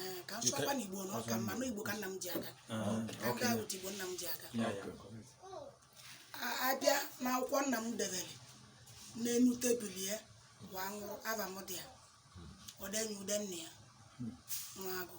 Eh, ka m sụọkwa n'igbo na ọ ka mma na igbo ka nna m ji aga ka m gaa wute igbo nna m ji aga A- abịa n'akwụkwọ nna m debere n'enu tebụl ya wa nwụrụ ava m dị ya o denye ude nne ya Nwagu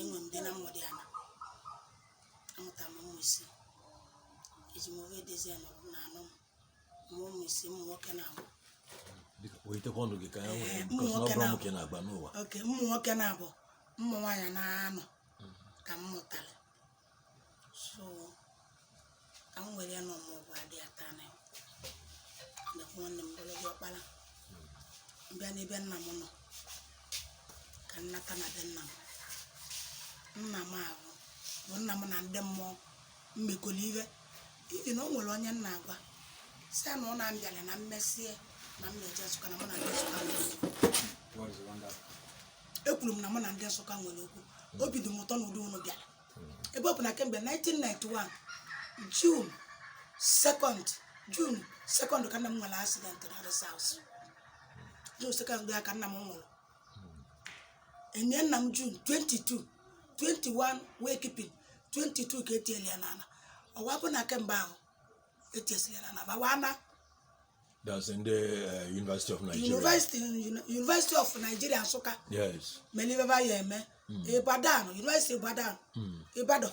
enwe m di na mmụdị ana amụta m ụmụ ise eji m ofe edezi ya nọrọ na anọ m mụọ ụmụ ise ụmụ nwoke naabọ Biko, kpọlitekwa ọnụ gị ka ya nwee Ee, because ụmụ na ọ nwoke bụrụ na- nwoke na-agba n'ụwa oke ụmụ nwoke naabọ ụmụ nwaanyị naanọ ka m mụtara so ka m were ya na ọmụgwọ adị ya taa na ndekwa nwanne m bụrụ gị ọkpara m bịa n'ebe nna m nọ ka nnata na be nna m nna m ahụ bụ nna m na ndị mmụọ mmekọrọ ihe ihi na o nwere onye m na-agwa si ya na ọ na-abịala na m mesịa na m na-eje Nsụka na mụ na ndị Nsụka nwere okwu ekwuru m na mụ na ndị Nsụka nwere okwu obi dị m ụtọ n'ụdị unu bịara ebe ọ bụ na kemgbe 1991 June 2nd June 2nd ka nna m nwere accident na Rest House June 2nd ya ka nna m nwụrụ enie nna m June 22 21 wake keeping 22 ka etinyere ya n'ala ọ wa bụ na kemgbe ahụ etinyesịrị ya n'ala bawa na That's in the uh, University of Nigeria. University, Uni- University of Nigeria Nsụka Yes. mere ive ba ya eme Ibadan University Ibadan Ibadan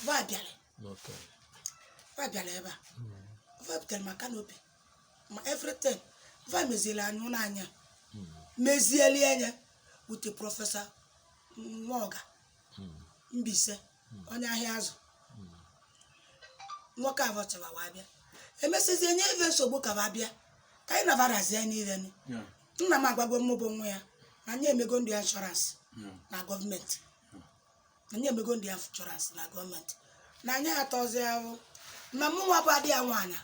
ba bịara Okay. ba bịara ebe a ba bịara ma kanopi ma everything ba mezieli anyị ụlọ anyị mezieli anyị with Professor Nwoga Mbaise onye Ahịazụ nwoke ahụ chị wa bịa emesịzie nye ife nsogbu ka wa bịa ka anyị nabarazie niile nụ Yeah. nna m agwago m bụ nwa ya na nya emego ndụ ya insurance Yeah. na government na nya emego ndụ ya insurance na government na nya atọzi ahụ na mụ nwa bụ ada ya nwaanyị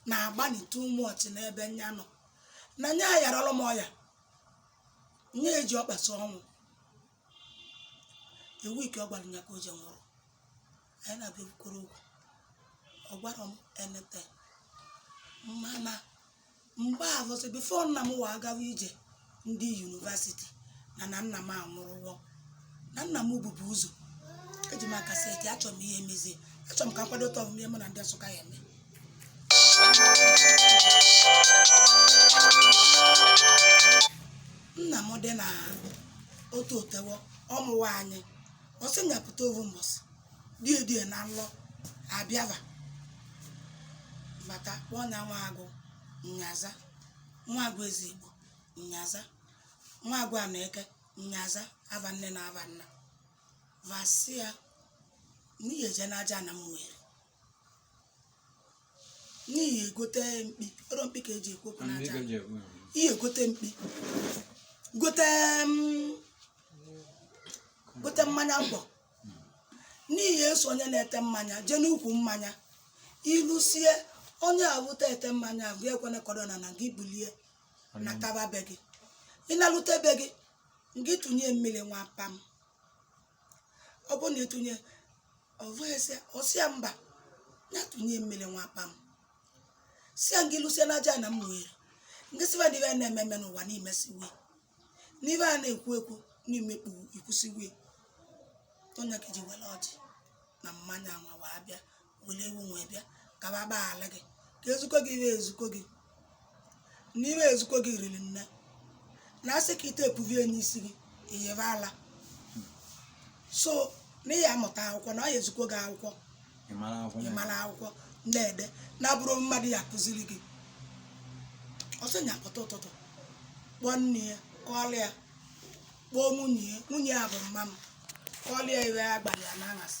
na-agbani too much n'ebe nya nọ na nya ayarọrọ m ọya nya eji ọkpa sọ ọnwụ the week ọ gwara ya ka o je nwụrụ anyị na-abịa ekwukọrọ okwu ọ gwara m anything mana mgbe ahụ sị before nna m wee gawa ije ndị university na na nna m anwụrụwo na nna m bụbu ụzọ eji m aka seti achọrọ m ihe mezie achọrọ m ka m kwadote ọmụmụ ihe mụ na ndị Nsụka ya eme nna m dị na otu otewo ọ mụwa anyị ọ sị nya pụta ovu mbọsị die die na nlọ abịava bata kpọọ nya Nwagụ nya za Nwagụ Ezigbo nya za Nwagụ Aneke nya za ava nne na ava nna va sị ya na ị ya-eje n'Ajana Ụmụeri na ị ya-egote mkpi ọrụ mkpi ka eji ekwu okwu n'Ajana. ị ya-egote mkpi gote mm, gote mmanya ngwọ na ị ya-eso onye na-ete mmanya jee n'ukwu mmanya i lusie onye awụta ete mmanya gị ekwene ka o do n'ana gị bulie nataba be gị ị nalute be gị gị tụnye mmiri nwa pam ọ bụrụ na ị tụnye ọ wee ọ sị ya mba ya tụnye mmiri nwa pam sị ya ngị lusie n'Ajana Ụmụeri ngị sị va na ive na-eme eme n'ụwa na i mesiwe n'ive a na-ekwu ekwu n'imekpu i kwusiwe onye ka ji were ọjị na mmanya nwa wee bịa were ewu wee bịa ka ba gbaghara gị ka ezikọ gị ive ezikọ gị n'ive ezikọ gị riri nne na asị ka ite epuvie n'isi gị iyebe ala so na ị ya-amụta akwụkwọ na ọ ya-ezikọ gị akwụkwọ ị mara akwụkwọ na-ede na-abụrọ mmadụ ya-akụziri gị ọ sị nya pụta ụtụtụ kpọọ nne ya kọọlụ ya kpọọ nwunye ya nwunye ya bụ mma m kọọlụ ya ive a gwara ya n'aṅasị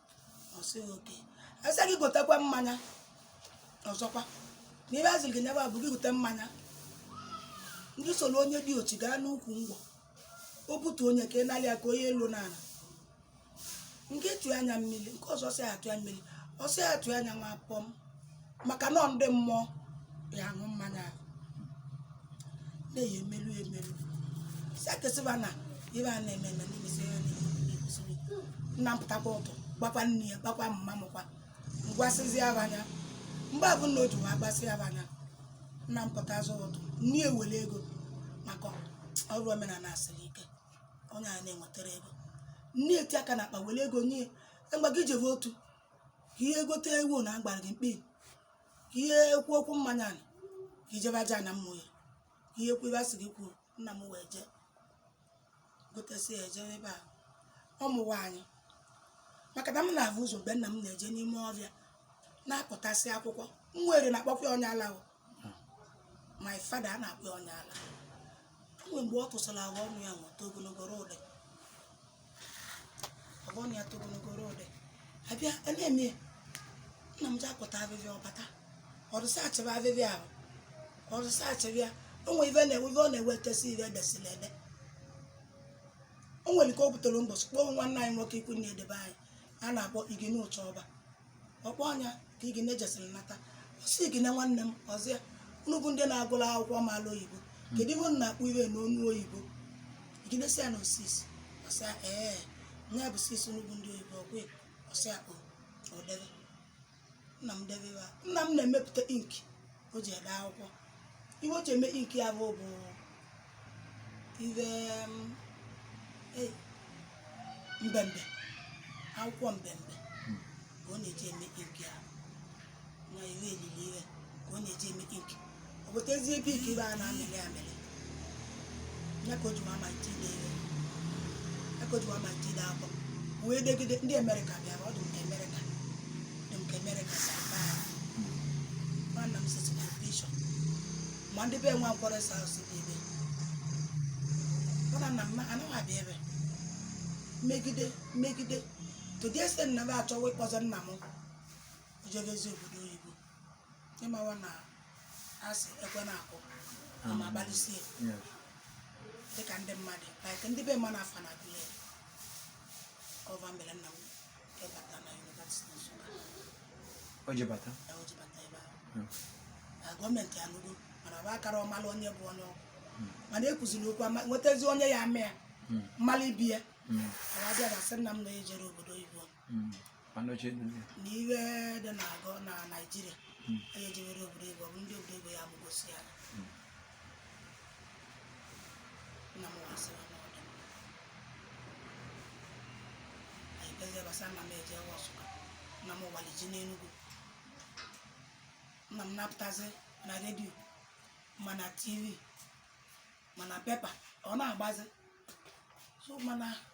ọ sị ya okay a sị gị gotekwa mmanya ọzọkwa na ive ezili gị nyaba bụ gị gote mmanya ngị soro onye diochi gaa n'ukwu ngwọ o butu onye ka ị nalị ya ka onye elu n'ana ngị tụa nya mmiri nke ọzọ sị atụ ya mmiri ọ sị ya tụa nya nwa pọm maka na ndị mmụọ ya-aṅụ mmanya ahụ na-eyi emelu emelu sị ya ka ị sị va na ive a na-eme eme na i mesi ya na-ekwusi nna m pụtakwa ụtụtụ gwakwa nne ya gwakwa mma mụkwa gwasịzia va nya mgbe abụ nwa o ji wee gwasịa va nya nna m pụtazi ụtụtụ nne ya were ego maka ọrụ omenala asịrị ike onye a na-ewetara ego nne ya etie aka na akpa were ego nye ya ngwa gị jebe otu ka ị ya-egote ewu na a gwara gị mkpi ka ị ya-ekwu okwu mmanya na ka ị jebe Ajana Ụmụeri ka ị ya-ekwu ive a sị gị kwuo nna m wee jee gotesi ya ejebe ebe a ọ mụwa anyị maka na m na-ahụ ụzọ mgbe nna m na-eje n'ime ọvịa na-akọtasị akwụkwọ m were na-akpọkwa ya onye ala my father a na-akpọ onye ala o nwe mgbe ọ tụsara afọ ọnụ ya to ogologo rụdị afọ ọnụ ya to ogologo rụdị abịa a na-eme ya nna m ji akpọta afịfịa ọ bata ọdụsa achịba afịfịa ahụ ọdụsa achịba ya o nwere ife na-ewe ife ọ na-ewetesi ife edesila ede o nwere nke o butere mbọchị kpọọ nwanne anyị nwoke ikwu ndị be anyị a na-akpọ Igene Ụchaọba ọ kpọọ ya ka Igene jesịrị nata ọ sị Igene nwanne m ọ sị ya unu bụ ndị na-agụla akwụkwọ maala oyibo kedu ihe unu na-akpọ ihe a n'ọnụ oyibo Igene sị ya na ọ six ọ sị ya ee nya bụ six unu bụ ndị oyibo okay ọ sị ya o o debe nna m debe ya nna m na-emepụta ink o ji ede akwụkwọ ife o ji eme ink ya bụ bụ ife um, eh, mbembe akwụkwọ mbembe ka ọ na-eji eme ink ya na ife elili ife ka ọ na-eji eme ink ọ wetazie ebe ike ife a na-amịrị amịrị ya ka o ji amalite ide ihe ya ka o ji amalite ide akwụkwọ wee degide ndị amerịka bịara ọ dị nke amerịka dị nke amerịka nwanna m sesịkwa bishọp ma ndị be nwa nkwọrọ sa asụ dị ebe mana nna m anaghị abịa ebe megide megide to the extent na fa achọwa ịkpọzi nna m o jebezi obodo oyibo ị mawa na a sị ekwe na-akụ ama mm. agbalusie dịka ndị mmadụ like ndị be mmanụ afa na agụle ọva mere nna m ịbata na yunivasiti Nsụka o ji bata ebe ahụ gọọmenti anụgo mana fa akara amalụ onye bụ onye ọ bụ hmm. mana e kwuziri okwu nwetazi onye ya ama ya hmm. malụ ibe ya hmm. abịa na asị nna m na ejere obodo oyibo hmm. na ife dị na-agụ na naijiria hmm. anyị ejewere obodo oyibo bụ ndị obodo oyibo ya abụgosi ya hmm. nna m wasịrị n'ọdụ anyị kpezie gbasa nna m eje wa Nsụka nna m waliji n'enugwu nna m na-apụtazi na redio ma na tv ma na pepa ọ na-agbazi so mana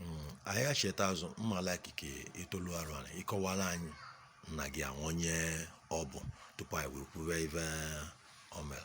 Mm, anyị acheta azụ mmala ikike itolu arụ anyị ị kọwara anyị nna gị ahụ onye ọ bụ tupu anyị wee kwube ife o mere